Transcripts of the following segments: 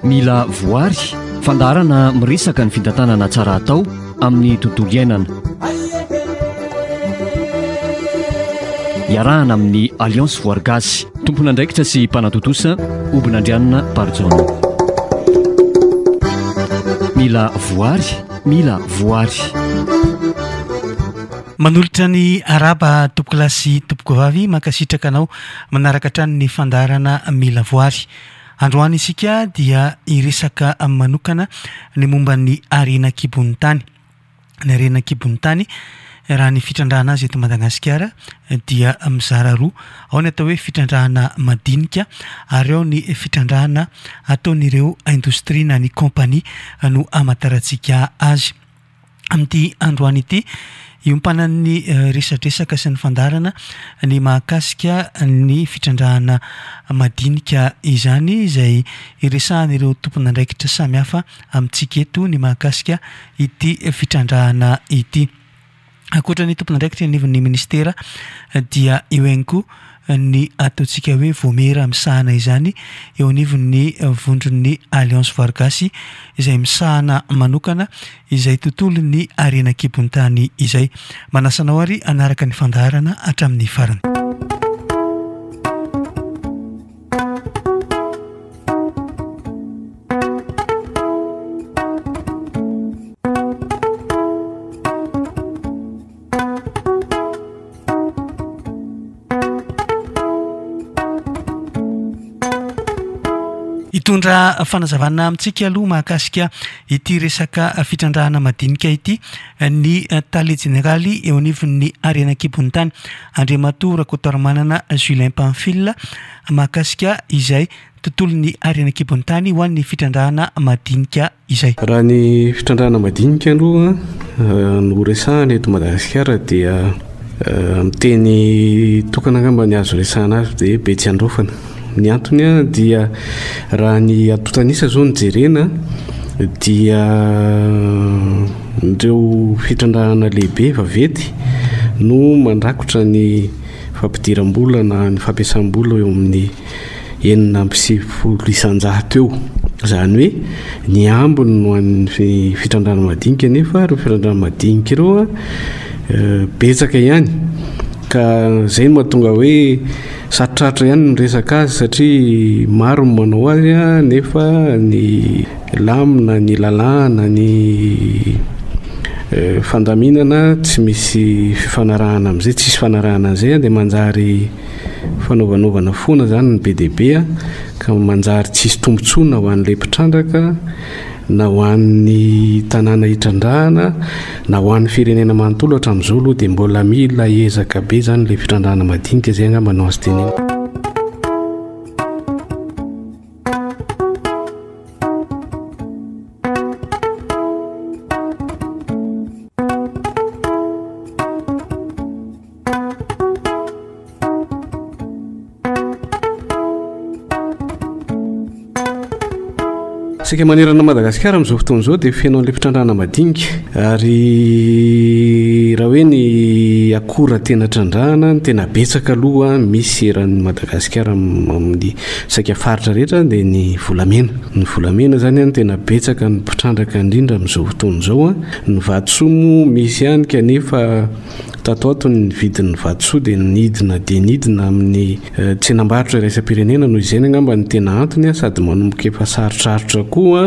Mila voary, fandaharana miresaka ny fitantanana tsara atao amin'ny tontolo iainana. Iarahana amin'ny Alliance Voary Gasy, tompon'andraikitra sy mpanatontosa, Obinandrianina Barijaona. Mila voary, mila voary. Manolotra ny araba tompoko lahy sy tompoko vavy mankasitraka anao manaraka hatrany ny fandaharana mila voary. Androany isika dia hiresaka manokana ny momba ny harena an-kibon'ny tany. Ny harena an-kibon'ny tany raha ny fitrandrahana azy eto Madagasikara dia mizara roa. Ao ny atao hoe fitrandrahana madinika ary ao ny fitrandrahana ataon'ireo indostria na ny kaompania no amantarantsika azy. amin'ity androany ity. Iompanan'ny resadresaka sy ny fandaharana ny mahakasika ny fitrandrahana madinika izany izay iresahan'ireo tompon'andraikitra samihafa amintsika eto ny mahakasika ity fitrandrahana ity. Ankoatra ny tompon'andraikitra eo anivon'ny ministera dia eo ihany koa ny ataontsika hoe Vaomiera misahana izany eo anivon'ny vondron'ny Alliance Vargasy izay misahana manokana izay tontolon'ny harena an-kibon'ny tany izay. Manasa anao ary hanaraka ny fandaharana hatramin'ny farany. Hitondra fanazavana amintsika aloha mahakasika ity resaka fitrandrahana madinika ity ny tale jeneraly eo anivon'ny harena kibon'ny tany Andriamatoa Rakotoarimanana Julien Pamphile mahakasika izay tontolon'ny harena kibon'ny tany ho an'ny fitrandrahana madinika izay. Raha ny fitrandrahana madinika aloha no resahana eto Madagasikara dia amin'ny teny tokana angamba ny azo resahana azy dia Betsiandraofana. Ny antony dia raha ny antontan'isa izao no jerena dia ireo fitrandrahana lehibe vaventy no mandrakotra ny fampidiram-bola na ny fampiasam-bola eo amin'ny enina amby sivifolo isanjato eo. Izany hoe ny ambiny no an'ny fitrandrana madinika nefa ireo fitrandrana madinika ireo a eh, betsaka ihany ka zay no mahatonga hoe sarotrarotra ihany ny resaka azy satria maro ny manao azy a nefa ny lamina ny lalàna ny eh, fandaminana tsy misy fifanarahana amin'izay tsisy fanarahana an'izay a dia manjary Fanaovanovana foana izany ny be dia be ka manjary tsisy tombotsoa na ho an'ilay mpitrandraka na ho an'ny tanàna hitrandrahana na ho an'ny firenena manontolo hatramin'izao aloha dia mbola mila ezaka be izany ilay fitrandrahana madinika izay angamba no azo tenena. Isika manerana Madagasikara amin'izao fotoana izao dia feno an'ilay fitrandrahana madinika ary raha hoe ny akora tena trandrahana ny tena betsaka aloha misy eran'ny Madagasikara amin'ny saika faritra rehetra dia ny volamena. Ny volamena izany an tena betsaka ny mpitrandraka indrindra amin'izao fotoana izao an. Ny vatosoa moa misy ihany kanefa Tato ho ato ny vidin'ny vatosoa dia nidina dia nidina amin'ny tsenam-barotra iraisam-pirenena noho izany angamba no tena antony sady manomboka efa sarotrarotra koa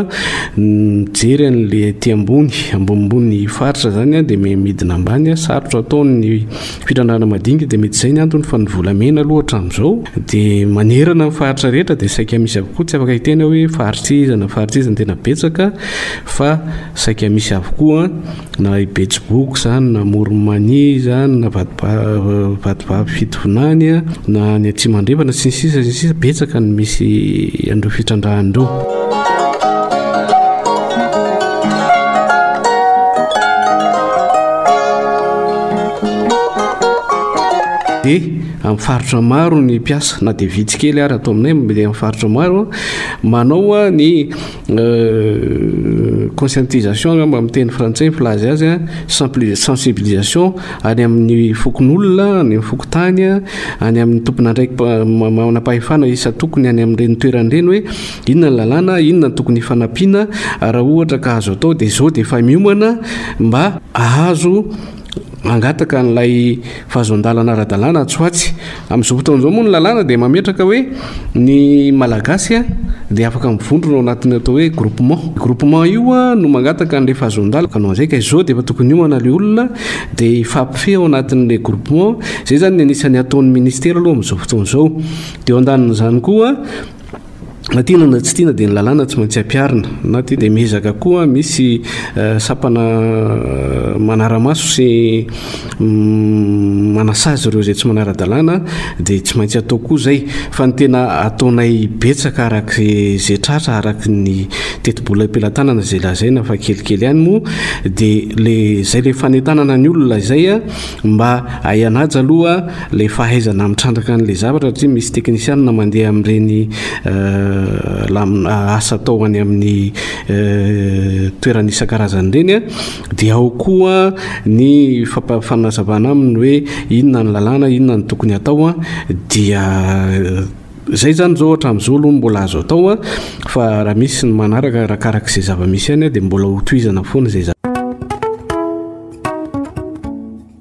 mijery an'ilay aty ambony ambonimbony faritra izany dia midina ambany sarotra ataon'ny firandrana madinika dia mety izay ny antony fa ny volamena aloha hatramin'izao dia manerana ny faritra rehetra dia saika misy avokoa tsy afaka hiteny hoe faritra iza na faritra iza ny tena betsaka fa Saika misy avokoa na i Betsiboky izany na Moromania izany na Vatovavy Fitovinany na any Atsimo Andrefana sy ny sisa sy ny sisa betsaka ny misy an'ireo fitrandrahana ireo. amin'ny faritra maro ny mpiasa na dia vitsy kely ary atao aminay mety amin'ny faritra maro manao ny conscientisation angamba amin'ny teny frantsay ny filaza azy a sensibilisation any amin'ny fokonolona any amin'ny fokontany a any amin'ny tomponandraikimanam-pahefana isa tokony any amin'ireny toerana ireny hoe inona ny lalàna inona ny tokony hifanampiana raha ohatra ka azo atao dia izao dia efa miomana mba ahazo mangataka an'ilay fahazoan-dalana ara-dalàna atsy ho atsy. Amin'izao fotoana izao moa ny lalàna dia mametraka hoe ny Malagasy dia afaka mivondrona ao anatin'ny atao hoe groupement. Groupement io no mangataka an'ilay fahazoan-dalana ka noho izay ka izao dia efa tokony hiomana ilay olona dia hifampifehy ao anatin'ilay groupement. Izay izany ny anisan'ny ataon'ny Minisitera aloha amin'izao fotoana izao. Dia eo andanin'izany koa Na tiana na tsy tiana dia ny lalàna tsy maintsy ampiharina. Na tiana dia miezaka koa misy sampana manara-maso sy manasazy ireo izay tsy manara-dalàna dia tsy maintsy atao koa izay. Fa ny tena ataonay betsaka araka izay tratra araka ny tetibola am-pelatanana izay lazaina fa kelikely ihany moa dia ilay izay ilay fanentanana ny olona izay mba hay hanaja aloha Ilay fahaizana mitrandraka an'ilay zavatra satria misy teknisianina mandeha amin'ireny asa atao any amin'ny toerana isan-karazany ireny dia ao koa ny fanazavana aminy hoe inona ny lalàna, inona ny tokony atao dia izay izany izao hatramin'izao aloha no mbola azo atao fa raha misy ny manaraka arakaraka izay zava-misy ihany dia mbola hotohizana foana izay zavatra.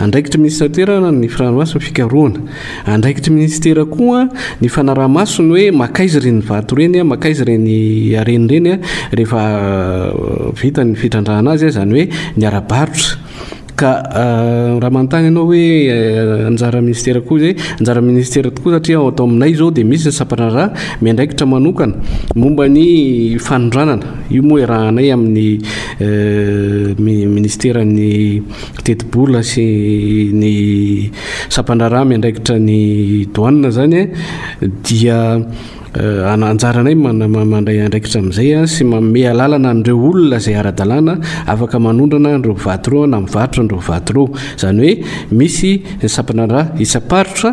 Andraikitry minisitera ny firahalamasy ny fikarohana. Andraikitry minisitera koa ny fanaraha-maso ny hoe makaiza ireny vato ireny, makaiza ireny harena ireny rehefa vita ny fitrandrahana azy, izany hoe ny ara-barotra. Ka raha manontany ianao hoe anjaran'ny minisitera koa ve? Anjaran'ny minisitera tokoa satria ato aminay izao dia misy ny sampandraharaha miandraikitra manokana momba ny fanondranana. Io moa iarahanay amin'ny minisiteran'ny. tetibola sy ny sampandraharaha miandraikitra ny douane zany dia anjaranay mandray andraikitra amin'izay sy manome alalana an'ireo olona izay ara-dalàna afaka manondrana an'ireo vato ireo na mivarotra an'ireo vato ireo. Izany hoe misy ny sampandraharaha isam-paritra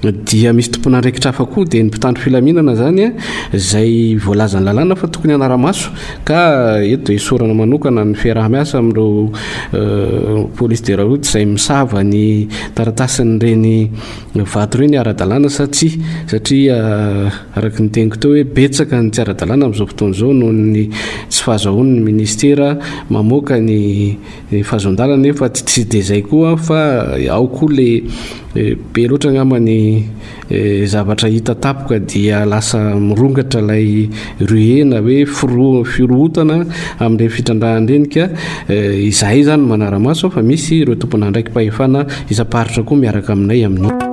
dia misy tompon'andraikitra hafa koa dia ny mpitandro filaminana izany a izay voalazan'ny lalàna fa tokony hanara-maso ka eto dia hisorana manokana ny fiaraha-miasa amin'ireo euh, police de la route izay misava ny taratasin'ireny vato ireny ara-dalàna sa tsy satria euh, araka ny teniko teo hoe betsaka ny tsy ara-dalàna amin'izao fotoana izao noho ny tsy fahazahoan'ny ministera mamoaka ny Ny fahazon-dalana anefa tsy dia izay koa fa ao koa le be loatra angamba ny zavatra hita tapoka dia lasa mirongatra ilay ruée na hoe firohotana amin'ireny fitrandrahana ireny ka izahay izany manara-maso fa misy ireo tompon'andraiki-pahefana isam-paritra koa miaraka aminay amin'io.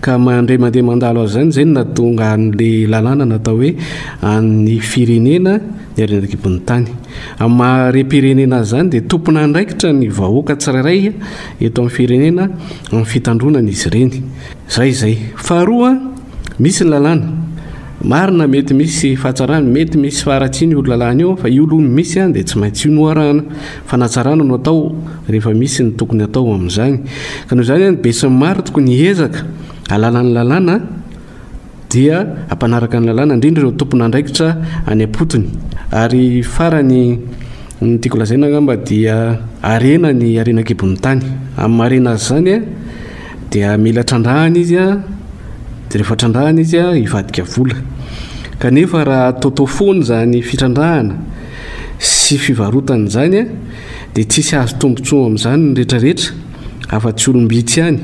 Ka mandre mandeha mandalo azy izany izay no nahatonga an'ilay lalàna natao hoe an'ny firenena ny haren'an-kibon'ny tany. Amin'ny maha harem-pirenena azy izany dia tompon'andraikitra ny vahoaka tsirairay eto amin'ny firenena amin'ny fitandroana an'izy ireny. Izay izay. Faharoa, misy ny lalàna. Marina mety misy fahatsarany, mety misy faharatsiany io lalàna io fa io aloha no misy dia tsy maintsy io no arahana. Fanatsarana no atao rehefa misy ny tokony atao amin'izany. Ka noho izany any besin'ny maro tokony hihezaka ahalala ny lalàna dia ampanaraka ny lalàna indrindra ireo tompon'andraikitra any am-potony. Ary farany ny tiako lazaina angamba dia harena ny harena an-kibon'ny tany. Amin'ny maha harena azy izany dia mila trandrahana izy a, dia rehefa trandrahana izy a hivadika vola. Kanefa raha ataotao foana izany fitrandrahana sy fivarotana izany dia tsy hisy hahazo tombotsoa amin'izany ny rehetra rehetra afa tsy olom-bitsy ihany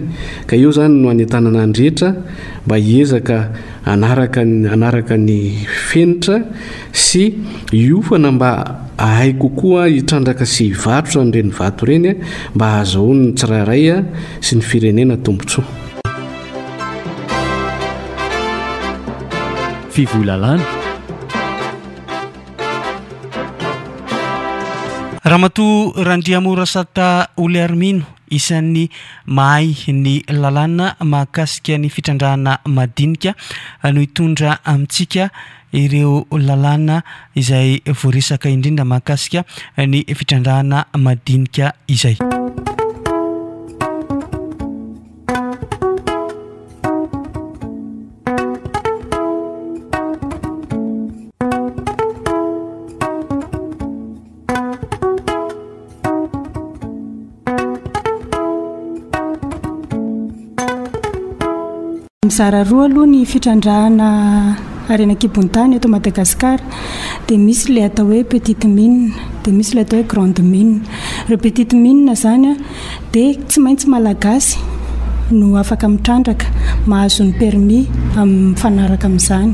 ka eo izany no hanentanana ny rehetra mba hiezaka hanaraka hanaraka ny fenitra sy hiofana mba ahay kokoa hitrandraka sy hivarotra an'ireny vato ireny mba hahazoan'ny tsirairay sy ny firenena tombotsoa. Fivoy lalàna. Ramatoa Randriamorasata Oliarmino, isan'ny mahay ny lalàna mahakasika ny fitrandrahana madinika no hitondra amintsika ireo lalàna izay voaresaka indrindra mahakasika ny fitrandrahana madinika izay. mizara roa aloha ny fitrandrahana harena an-kibon-tany eto Madagasikara dia misy ilay atao hoe petite mine dia misy ilay atao hoe grande mine. Ireo petite mine izany a dia tsy maintsy Malagasy no afaka mitrandraka, mahazo ny permis amin'ny mifanaraka amin'izany.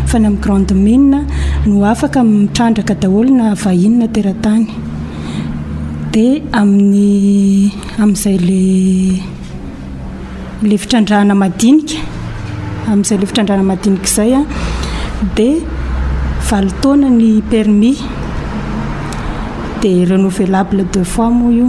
Fa ny amin'ny grande mine no afaka mitrandraka daholo na vahiny na teratany. Dia amin'ny amin'izay le le fitrandrahana madinika, amin'izay le fitrandrahana madinika izay a, dia valo taona ny permis, dia renouvelable deux fois moa io.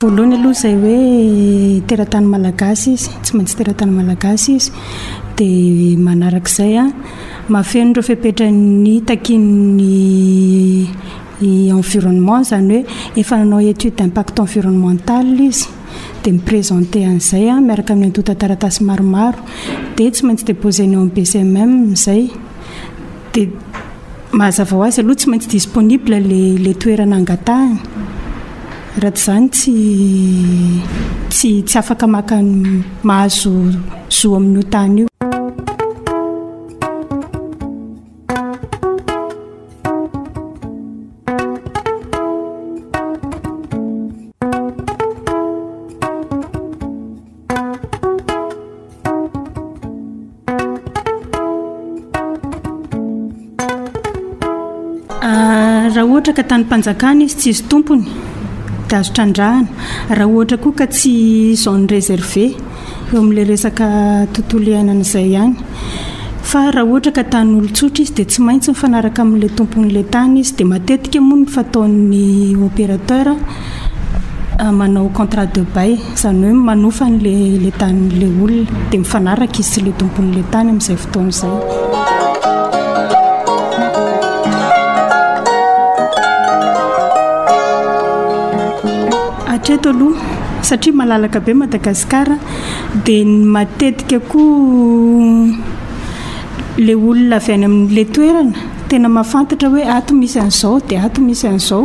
Voalohany aloha izay hoe teratany malagasy izy, tsy maintsy teratany malagasy izy. Dia manarak'izay a, mahafeno ireo fepetra ny takian'ny environnement, izany hoe efa nanao étude d'impact environnemental izy, dia mi-presenter an'izay a, miaraka amin'ny antontan-taratasy maromaro. Dia tsy maintsy déposer-ny ao amin'ny BCMM izay. Dia. Mahazava ho azy aloha tsy maintsy disponible ilay toerana angatahany. Raha tsy izany tsy tsy tsy afaka maka mahazo zo amin'io tany io. raha ohatra ka tanim-panjakana izy tsisy tompony dia azo trandrahana raha ohatra koa ka tsy zone réservé eo amin'ilay resaka tontolo iainana izay ihany fa raha ohatra ka tany olon-tsotra izy dia tsy maintsy mifanaraka amin'ilay tompon'ilay tany izy dia matetika moa ny fataon'ny opérateur ah, manao contrat de bail izany hoe manofa an'le le tanin'le olona dia mifanaraka izy sy le tompon'le tany amin'izay fotoana izay hatreto aloha satria malalaka be madagasikara dia ny matetika koa le olona avy any amin'le toerana tena mahafantatra hoe ato misy an'izao dia ato misy an'izao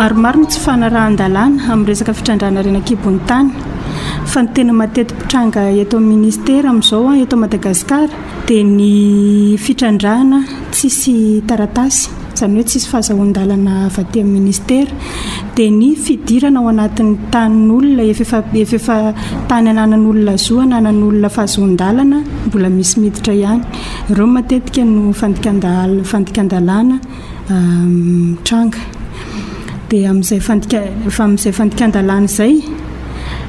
Maromaro ny tsy fanarahan-dalàna amin'ny resaka fitrandrahana harena an-kibon'ny tany. Fa ny tena mateti-pitranga eto amin'ny ministera amin'izao eto Madagasikara dia ny fitrandrahana tsisy taratasy. izany hoe tsisy fahazahoan-dalana avy aty amin'ny ministera, dia ny fidirana ao anatin'ny tanin'olona efa efa efa efa tany ananan'olona zo, ananan'olona fahazoan-dalana, mbola misy miditra ihany. Ireo matetika no fandikan-dal- fandikan-dalàna mitranga. Dia amin'izay fandikan- amin'izay fandikan-dalàna izay.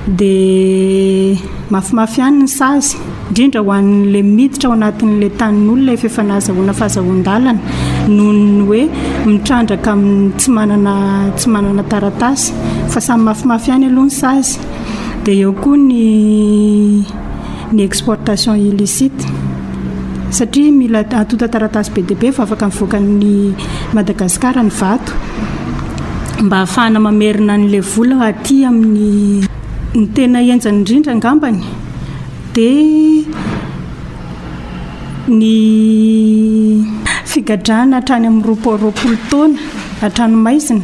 dia mafimafy ihany ny sazy, indrindra ho an'ilay miditra ao anatin'ilay tanin'olona efa efa nahazahoana fahazahoan-dalana noho ny hoe mitrandraka amin'ny tsy manana tsy manana taratasy fa samy mafimafy ihany aloha ny sazy dia eo koa ny ny exportation illicite satria mila antontan-taratasy be dia be vao afaka mivoaka an'i Madagasikara ny vato mba hahafahana mamerina an'ilay vola aty amin'ny ny tena henjany indrindra angambany dia ny figadrana hatrany amin'ny roapolo roapolo taona hatrany maizina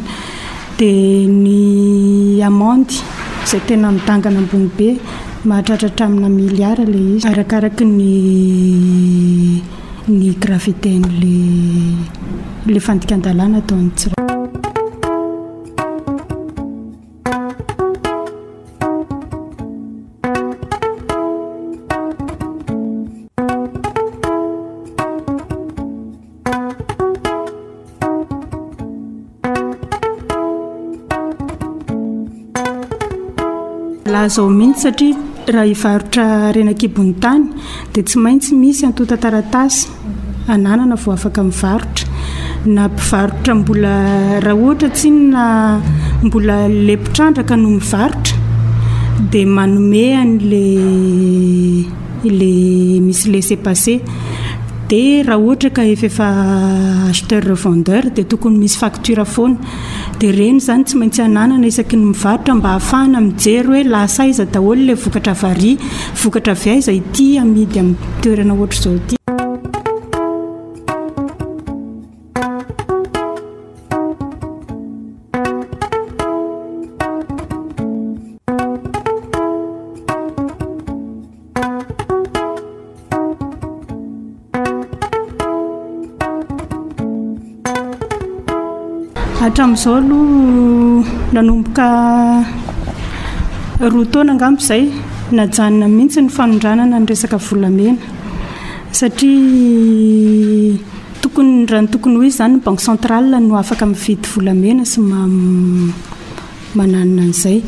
Dia ny amandy izay tena midangana ambony be, mahatratra hatramina milliards ilay izy, arakaraka ny ny gravité an'ilay ilay fandikan-dalàna ataon'ny tsirairay. Laza ao mihitsy satria raha hivarotra harena kibon'ny tany dia tsy maintsy misy antontan-taratasy ananana vao afaka mivarotra na mpivarotra mbola raha ohatra tsinona mbola lepitrandraka no mivarotra dia manome an'ilay ilay misy laisser passer dia raha ohatra ka efa efa acheteur revendeur dia tokony misy facture foana dia ireny izany tsy maintsy ananana isaky ny mivarotra mba hahafahana mijery hoe lasa aiza daholo ilay vokatra vary vokatra avy aiza ity amidy amin'ny toerana ohatr'izao ity hatramin'izao aloha nanomboka roa taona angambo izay najanona mihitsy ny fanondranana ny resaka volamena satria Tokony raha ny tokony ho izy izany ny banque centrale no afaka mividy volamena sy mananina an'izay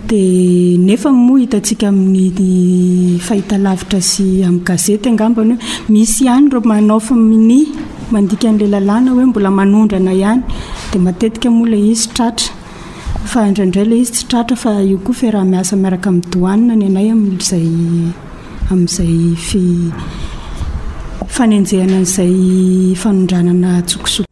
dia nefa moa hitantsika amin'ny fahita lavitra sy amin'ny gazety angambany hoe misy ihany ireo manao faminia mandika an'ilay lalàna hoe mbola manondrana ihany dia matetika moa ilay izy tratra fa indraindray ilay izy tsy tratra fa io koa fiaraha-miasa miaraka amin'ny douane ny anay amin'izay amin'izay fanenjehana an'izay fanondranana an-tsokosoko.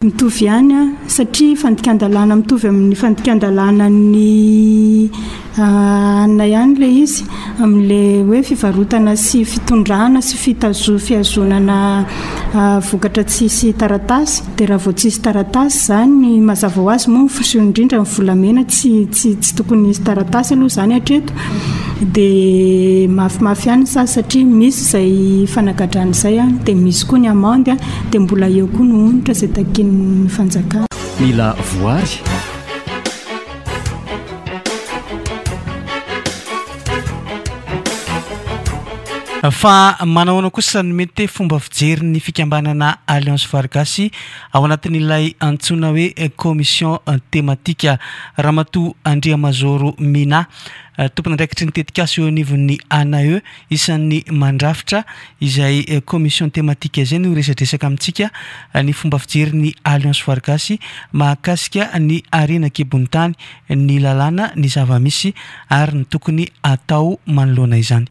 mitovy ihany a satria fandikan-dalàna mitovy amin'ny fandikan-dalànan'ny anina ihany ilay izy amin'ilay hoe fivarotana sy fitondrana sy fitazo fihazonana vokatra tsisy taratasy dia raha vao tsisy taratasy izany ny mazava ho azy moa ny fiseho indrindra ny volamena tsy tsy tsy tokony hisy taratasy aloha izany hatreto dia mafimafy ihany ny sazy satria misy izay fanagadrana izay an dia misy koa ny amande an dia mbola eo koa ny onitra izay takian'ny fanjakana mila voary fa manahoana kosa ny mety fomba fijerin'ny fikambanana alliance voary gasy Ao anatin'ilay antsoina hoe Commission Thématique, Ramatoa Andriamazoro Minah, tompon'andraikitry ny tetikasa eo anivon'ny ANAE, isan'ny mandrafitra izay Commission Thématique izay no hiresadresaka amintsika ny fomba fijerin'ny Alliance Voarigasy mahakasika ny harena an-kibon'ny tany, ny lalàna, ny zava-misy ary ny tokony hatao manoloana izany.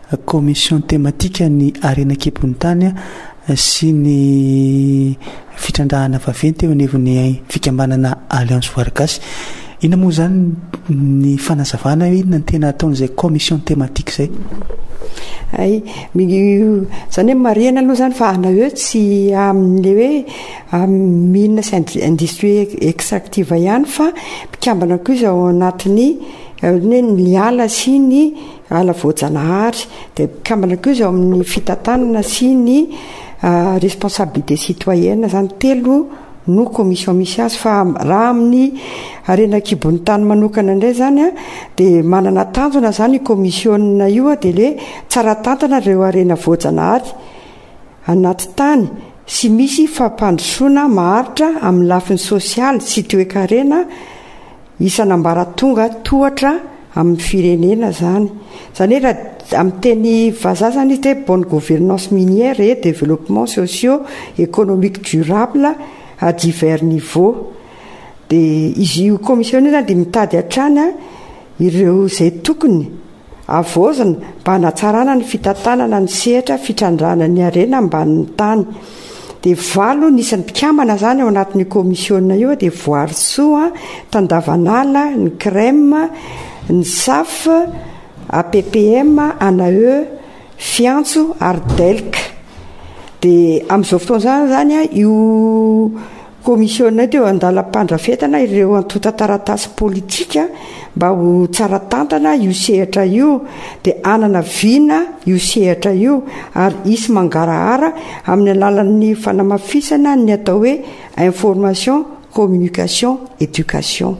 Commission thématique ny harena an-kibon'ny tany sy ny fitrandrahana vaventy eo anivon'ny fikambanana Alliance Voary Gasy. Inona moa izany ny fanazavana hoe inona ny tena ataon'izay commission thématique izay? Hay, izany hoe marihina aloha izany fa ana hoe tsy amin'ilay hoe amin'ny mines sy industrie extractive ihany fa mpikambana koa izy ao anatin'ny, ohatran'ny hoe ny ala sy ny. ala voajanahary dia mpikambana koa izy ao amin'ny fitantanana sy ny responsabilité citoyenne izany telo no commission misy azy fa raha amin'ny harena an-kibon'ny tany manokana indray izany a dia manana tanjona izany io commission io a dia ilay tsara tantana ireo harena voajanahary anaty tany sy misy fampandrosoana maharitra amin'ny lafiny sosialy sy toekarena Isana ambaratonga tohatra amin'ny firenena zany. Zany hoe raha amin'ny teny vazaha zany izy dia bonne gouvernance minière et développement socio économique durable à divers niveaux. Dia izy io commission io zany dia mitady hatrany ireo izay tokony. Havaozina mba hanatsarana ny fitantanana ny sehatra fitrandrahana ny harena ambanin'ny tany. Dia valo ny isan'ny mpikambana izany ao anatin'io kaomisiona io, dia Voarisoa, Tandavanala, ny CREM, ny SAF, APPM, ANAE, Fiantso ary DELC. Dia amin'izao fotoana izany io Commissiona teo an-dalam-pandrafetana ireo antontan-taratasy politika mba ho tsara tantana io sehatra io dia hanana vina io sehatra io ary hisy mangarahara amin'ny alalan'ny fanamafisana ny atao hoe information, communication, éducation.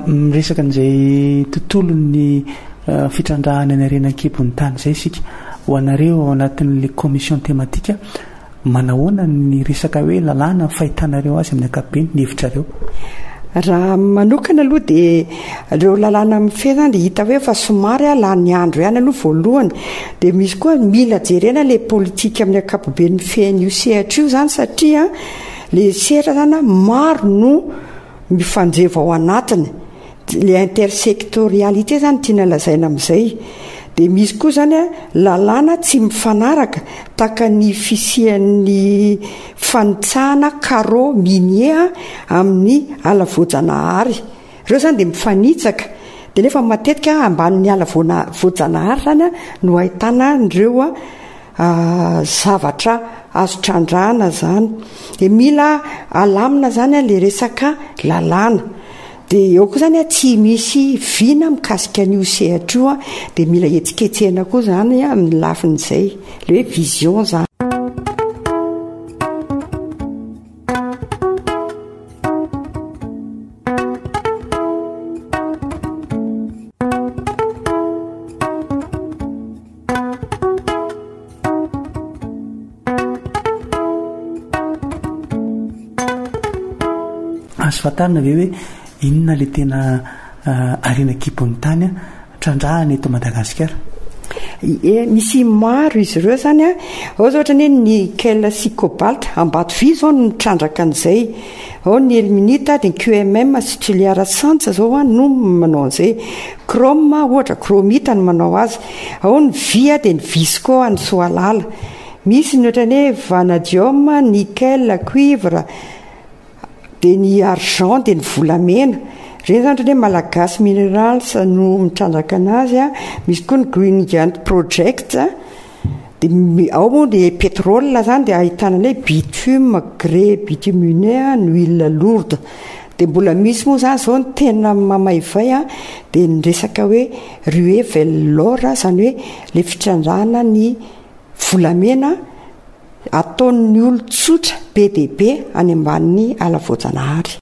miresaka an'izay tontolon'ny eh, fitrandrahana ny harena an-kibon'ny tany izay isika ho anareo ao anatin'ilay commission thématique Manahoana ny resaka hoe lalàna ny fahitanareo azy amin'ny ankapobeny, ny hevitrareo? Raha amiko manokana aloha dia ireo lalàna mifehy izany dia hita hoe efa somary lany andro ihany aloha voalohany. Dia misy koa mila jerena ilay politika amin'ny ankapobeny mifehy an'io sehatra io izany satria ilay sehatra izany maro no mifanjevo ao anatiny. le intersectorialité izany tiana lazaina amin'izay dia misy koa izany a lalàna tsy mifanaraka tahaka ny fisian'ny fanitsahana carreau minier amin'ny ala voajanahary ireo izany dia mifanitsaka dia nefa matetika ambanin'ny ala voajanahary izany no ahitana an'ireo zavatra azo trandrahana zany de mila alamina zany a le resaka lalàna de eo koa zany a tsy misy vina mikasika an'io sehatra io a de mila hetsiketsehina koa zany amin'ny lafin'izay le hoe vision zany Azo fantarina ve hoe inona ilay tena harena ah, kibon'ny tany ah, trandrahana eto Madagasikara? Eh, misy maro izy ireo zany a ah. ao za ohatra ny hoe nickel sy cobalt ambato vy zao no mitrandraka an'izay Ao ny Elminita, ny QMM sy Tchiliar Sans zao a no manao an'izay. Chrome ohatra, Chromita no manao azy. Ao ny vy a dia ny Visco any Soalala. Misy ny ohatran'ny hoe Vanadium, Nickel, Cuivre, dia ny Argent dia ny volamena. Ireny zany ohatran'ny hoe Malagasy Minerals no mitrandraka an'azy a. Misy koa ny Green Giant Projects. Dia ao moa ny pétrole izany dia ahitana ny hoe bitume, grès bitumineux, ny huile lourde. Dia mbola misy moa izany izao ny tena mamaivay an, dia ny resaka hoe ruée vers l'or izany hoe ilay fitrandrahana ny volamena ataon'ny olon-tsotra be dia be any ambanin'ny ala voajanahary.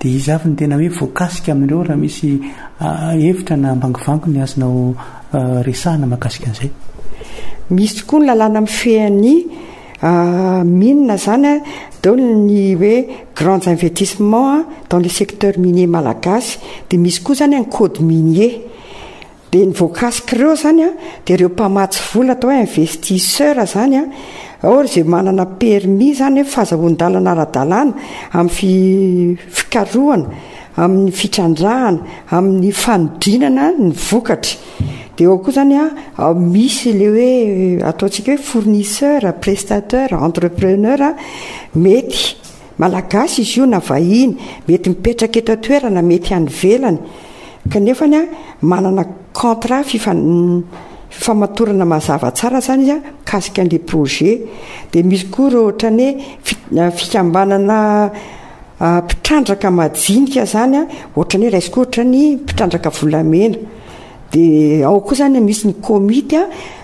Dia iza avy no tena hoe voakasika amin'ireo raha misy hevitra na ambangivangony azonao resahana mahakasika an'izay? Misy tokoa ny lalàna mifehy an'i mines izany, dao ny hoe grands investissements dans le secteur minier malagasy, dia misy koa izany ny code minier. Dia ny voakasika ireo izany an, dia ireo mpamatsy vola atao hoe investisseurs izany an, or izay manana permis izany hoe fazahoan-dalana ara-dalàna amin'ny fikarohana, amin'ny fitrandrahana, amin'ny fanodinana ny vokatra. Dia ao koa izany an, misy ilay hoe ataontsika hoe fournisseurs, prestateurs, entrepreneurs mety. Malagasy izy io na vahiny, mety mipetraka eto an-toerana, mety any ivelany, kanefa manana contrat fifamatorana mazava tsara izany izy mikasika an'ilay projet. Dia misy koa ireo ohatran'ny hoe fikambanana mpitrandraka majinika izany, ohatran'ny hoe raisiko ohatra ny mpitrandraka volamena. Dia ao koa izany misy ny komity.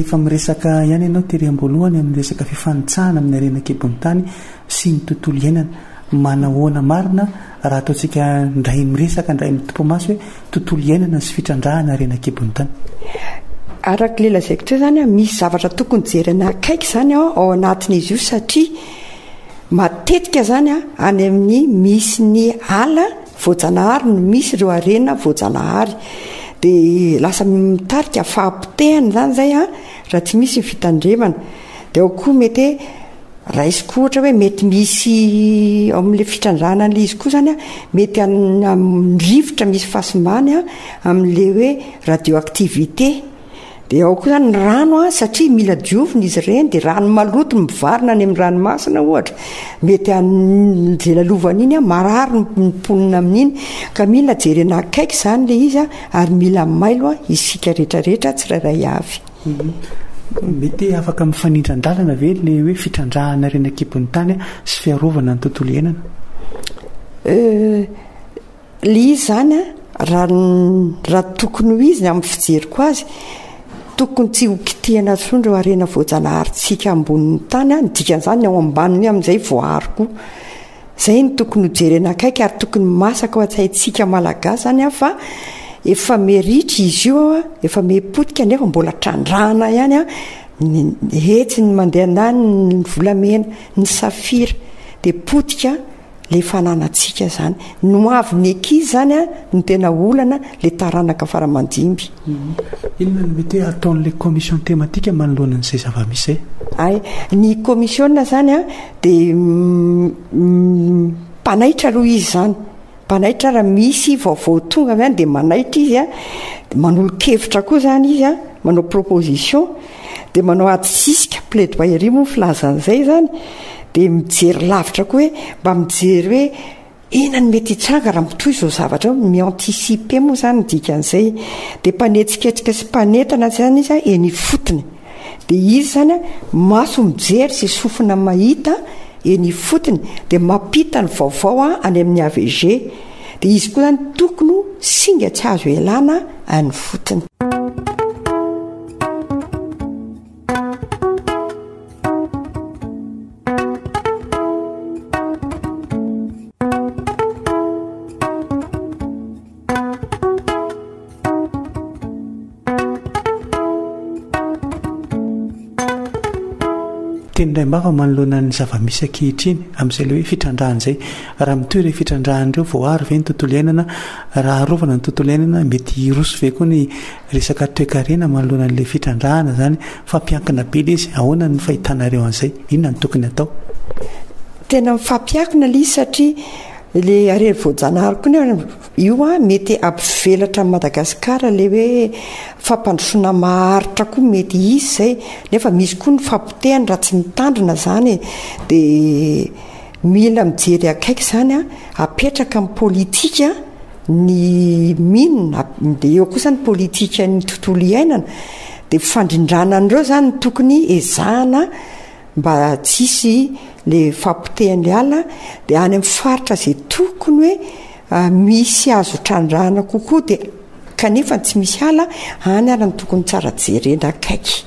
Efa miresaka ihany ianao tery am-boalohany amin'ny resaka fifanitsahana amin'ny harena an-kibon'ny tany sy ny tontolo iainana. Manahoana marina raha ataontsika indray miresaka indray mitompomaso hoe tontolo iainana sy fitrandrahana harena an-kibon'ny tany? Araka ilay lazaiko teo izany, misy zavatra tokony jerena akaiky izany ao anatin'izy io satria Matetika izany any amin'ny misy ny ala voajanahary no misy ireo harena voajanahary. Dia lasa mitarika fahapotehana izany izay raha tsy misy ny fitandremana. Dia ao koa mety hoe raisiko ohatra hoe mety misy ao amin'ilay fitrandrahana an'ilay izy koa izany mety amin'ny rivotra misy fahasimbanay amin'ilay hoe radioactivité. Dia ao koa ny rano an, satria mila diovina izy ireny, dia rano maloto mivarina any amin'ny ranomasina ohatra, mety hanjelalovana iny an, marary ny mponina amin'iny, ka mila jerena akaiky izany ilay izy an, ary mila mailo an, isika rehetra rehetra tsirairay avy. Mhm. Mety afaka mifanindran-dalana ve ilay hoe fitrandrahana ireny an-kibon'ny tany sy fiarovana ny tontolo iainana? Euh, Le izy zany a, raha tokony ho izy ny amin'ny fijeriko azy, tokony tsy ho kitihana intsony ireo harena voajanaharintsika ambonin'ny tany a, ny dikan'izany ny ao ambaniny amin'izay voaaro koa. Izay no tokony ho jerena akaiky ary tokony ho masaka ao an-tsaintsika Malagasy izany a fa efa miha ritra izy io, efa miha potika nefa mbola trandrahana ihany ny hetsiny mandeha an-daniny ny volamena, ny safira dia potika. le fananantsika zany no avy ny ekiz zany a no tena olana le taranaka faramandimby. Inona no mety hoe ataon'ilay commission thématique manoloana an'izay zava-misy zay? Ay, ny komisiona zany a dia mpanaitra aloha izy zany, mpanaitra raha misy vaovao tonga avy any dia manaitra izy a, manolo-kevitra koa zany izy a, manao proposition. Dia manao ady sisika, plaidoyerie moa ny filazana izay izany, dia mijery lavitra koa hoe mba mijery hoe inona no mety hitranga raha mitohy izao zavatra izao, mi-anticiper moa izany ny dikan'izay. Dia mpanetsiketrika sy mpanentana izany izy eny ifotony. Dia izy izany maso mijery sy sofina mahita eny ifotony, dia mampita ny vaovao any amin'ny avg. Dia izy koa izany tokony ho singa tsy azo ialana any ifotony. tenindraimbava manoloana ny zava-misy ankehitriny amin'izay le hoe fitrandrahana izay raha mitohy ireo fitrandrahana ireo voaaro ve ny tontolo iainana raha arovana ny tontolo iainana mety hiroso ve koa ny Resaka toekarena manoloana an'ilay fitrandrahana izany fa mpiankina be ilay izy, ahoana ny fahitanareo an'izay? Inona no tokony hatao? Tena mifampiankina ilay izy satria ilay harena voajanahary koa ny io an, mety hampivelatra an'i Madagasikara ilay hoe fampandrosoana maharitra koa mety hisy izay nefa misy koa ny fahapotehana raha tsy mitandrina izany e, dia mila mijery akaiky izany an, apetraka ny politika. Ny Min, dia eo kosa ny politikan'ny tontolo iainana, dia fifandrindrana an'ireo izany no tokony ezahana mba tsy hisy ilay fahapotehan'ilay ala, dia any amin'ny faritra izay tokony hoe misy azo trandrahana kokoa dia kanefa tsy misy ala, any ary no tokony tsara jerena akaiky.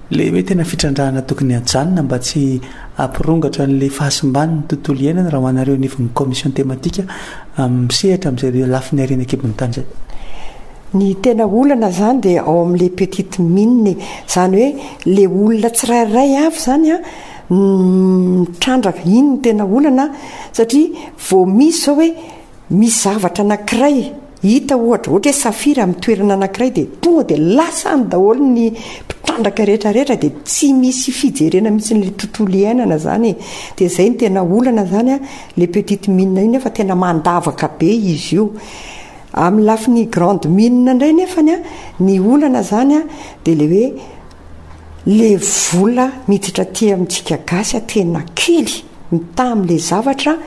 Ilay hoe tena fitrandrahana tokony hajanona mba tsy hampirongatra an'ilay fahasimban'ny tontolo iainana raha ho anareo anivon'ny commission thématique misehatra amin'izay lafiny hariana an-kibon'ny tany izay. Ny tena olana izany dia ao amin'ilay petite mine e. Izany hoe ilay olona tsirairay avy izany no mitrandraka, iny no tena olana satria vao misy izao hoe Misy zavatra anankiray hita ohatra, ohatra hoe safira amin'ny toerana anankiray dia tonga dia lasa any daholo ny mpitrandraka rehetra rehetra dia tsy misy fijerena mihitsy ilay tontolo iainana izany e. Dia izay no tena olana izany an, le petite mine io nefa tena mandavaka be izy io. Amin'ny lafiny grande mine indray nefany an, ny olana izany an dia ilay hoe le vola miditra aty amintsika gasy tena kely mitaha amin'ilay zavatra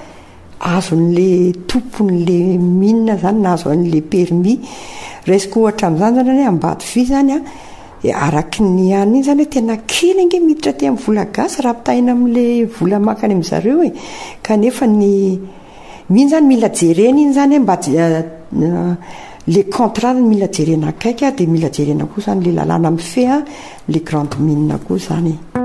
azon'le tompon'le mine zany na azo an'le permis resiko ohatra amzany zany hoe ambatofi zany an de araky ny any iny zany hoe tena kely ange miditra aty am vola gasy raha ampitahaina amle vola makany amzareo e kanefa ny iny zany mila jerena iny zany hoe mba le contrat zany mila jerena akaiky ary de mila jerena koa zany le lalàna mifehy an le grande mine koa zany e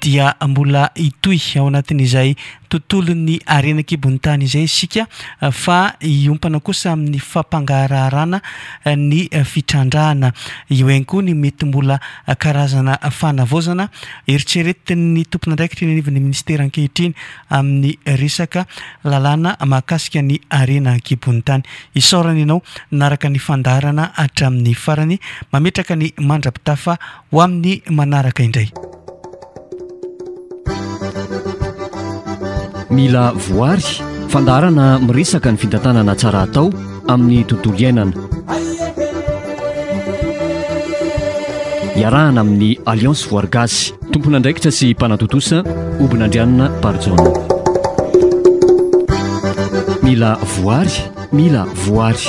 dia mbola hitohy ao anatin'izay tontolon'ny harena an-kibon'ny tany izay isika fa hiompana kosa amin'ny fampangaharaharana ny fitrandrahana. Eo ihany koa ny mety mbola karazana fanavaozana eritreretin'ny tompon'andraikitra eny anivon'ny minisitera ankehitriny amin'ny resaka lalàna mahakasika ny harena an-kibon'ny tany. Isaorana ianao nanaraka ny fandaharana hatramin'ny farany. Mametraka ny mandra-pitafa Ho amin'ny manaraka indray. Mila voary, fandaharana miresaka ny fitantanana tsara atao amin'ny tontolo iainana. Iarahana amin'ny Alliance Voary Gasy, tompon'andraikitra sy mpanatontosa, Obinandrianina Barijaona. Mila voary, mila voary.